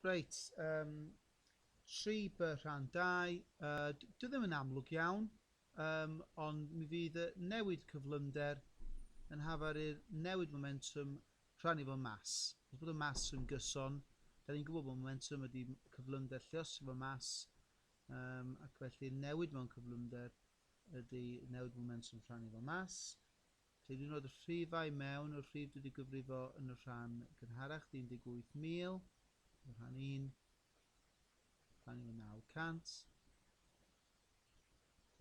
Reit, um, tri by rhan dau, uh, dwi ddim yn amlwg iawn, um, ond mi fydd y newid cyflymder yn hafar i'r newid momentum rhannu fo mas. Os bod y mas yn gyson, da ni'n gwybod bod momentum ydy cyflymder lliosio fo mas, um, ac felly'r newid mewn cyflymder ydy newid momentum rhannu fo mas. Hyd yn oed rhifau mewn y rhif dwi 'di gyfrifo yn y rhan gynharach, 'di 18,000, efo rhan 1, rhan 1 900,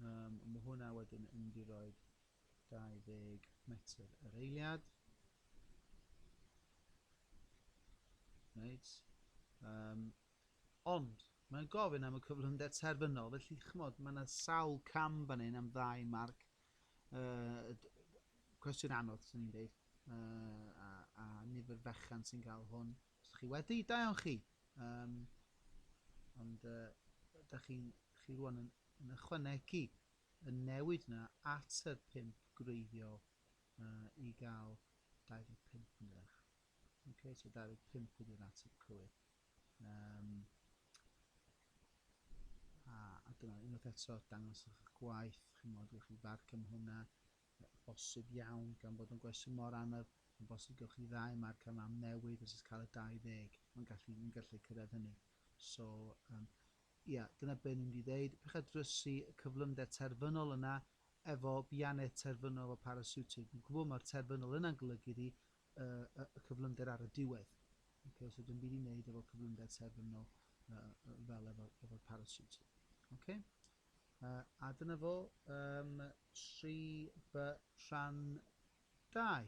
um, mae hwnna wedyn yn mynd i roed 20 metr yr eiliad. Reit. Um, ond, mae'n gofyn am y cyflymder terfynol, felly chymod, mae yna sawl cam fan hyn am ddau marc Uh, cwestiwn anodd, sy'n ni'n dweud. Uh, a, a nifer fechan sy'n cael hwn. Os chi wedi, da iawn chi. Um, ond uh, da chi, chi rwan yn, yn ychwanegu y newid yna at y pimp gwreiddiol uh, i gael 25 yn dweud. Okay, so 25 ydy'r ateb cywir. Um, a a dyna unwaith eto dangos eich gwaith ch'mod gewch chi fad cam hwnna yy bosib iawn gan bod yn gwestiwn mor anodd yn bosib gewch chi ddau marc cam am newid os oes cael y 20 mae'n gallu ni'n gallu cyrraedd hynny so um, ia dyna be' ni'n mynd i ddeud pech a drysu y cyflymder terfynol yna efo bianed terfynol o parasiwtig fi'n gwybod mae'r terfynol yna'n golygu iddi y cyflymder ar y diwedd. Okay, os ydym byd i wneud efo cyflymder terfynol uh, fel efo'r efo parasut. Okay? Uh, a dyna fo um, 3 by rhan 2.